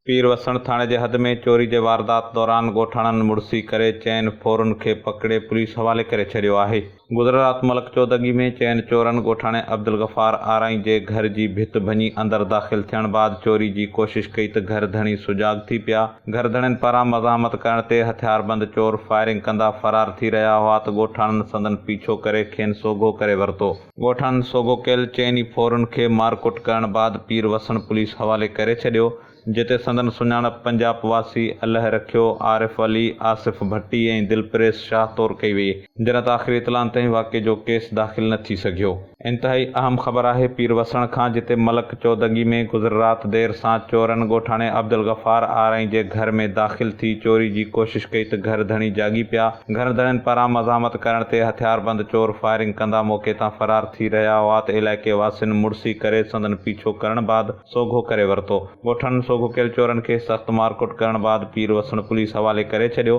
پير وسڻ ٿاڻي جي حد ۾ چوري جي واردات دوران ڳوٺاڻن مڙسي ڪري چئن ڦورن کي پڪڙي پوليس حوالي ڪري ڇڏيو آهي. گذريل رات ملڪ چودڳي ۾ چئن چورن ڳوٺاڻي عبدالغفار آرائين جي گهر جي ڀت ڀڃي اندر داخل ٿيڻ بعد چوري جي ڪوشش ڪئي ته گهر ڌڻي سجاڳ ٿي پيا گهرڌڻين پاران مزاحمت ڪرڻ تي هٿياربند چور فائرنگ ڪندا فرار ٿي رهيا هئا ته ڳوٺاڻن سندن پيڇو ڪري کين سوگهو ڪري ورتو. ڳوٺاڻن سوگهو ڪيل چئن ئي ڦورن کي مارڪٽ ڪرڻ بعد پير وسڻ پوليس حوالي ڪري ڇڏيو جتي سندن سڃاڻپ پنجاپ واسي الهه رکيو، عارف علي، آصف ڀٽي ۽ دلپريز شاهه طور ڪئي وئي. جنت آخري اطلاعن تائين واقعي جو ڪيس داخل نه ٿي سگهيو. انتهائي اهم خبر آهي پير وسڻ کان جتي ملڪ چودنگي ۾ گذر رات دير سان چورن ڳوٺاڻي عبدالغفار آرائين جي گهر ۾ داخل ٿي چوري جي ڪوشش ڪئي ته گهر ڌڻي جاڳي پيا گهرڌڻين پاران مزاحمت ڪرڻ تي هٿياربند چور فائرنگ ڪندا موقعي تان فرار ٿي رهيا هئات علائقي واسين مڙسي ڪري سندن پيڇو ڪرڻ بعد سوگهو ڪري ورتو ڳوٺاڻن سوگهو ڪيل چورن کي سخت مارڪٽ ڪرڻ بعد پير وسڻ پوليس حوالي ڪري ڇڏيو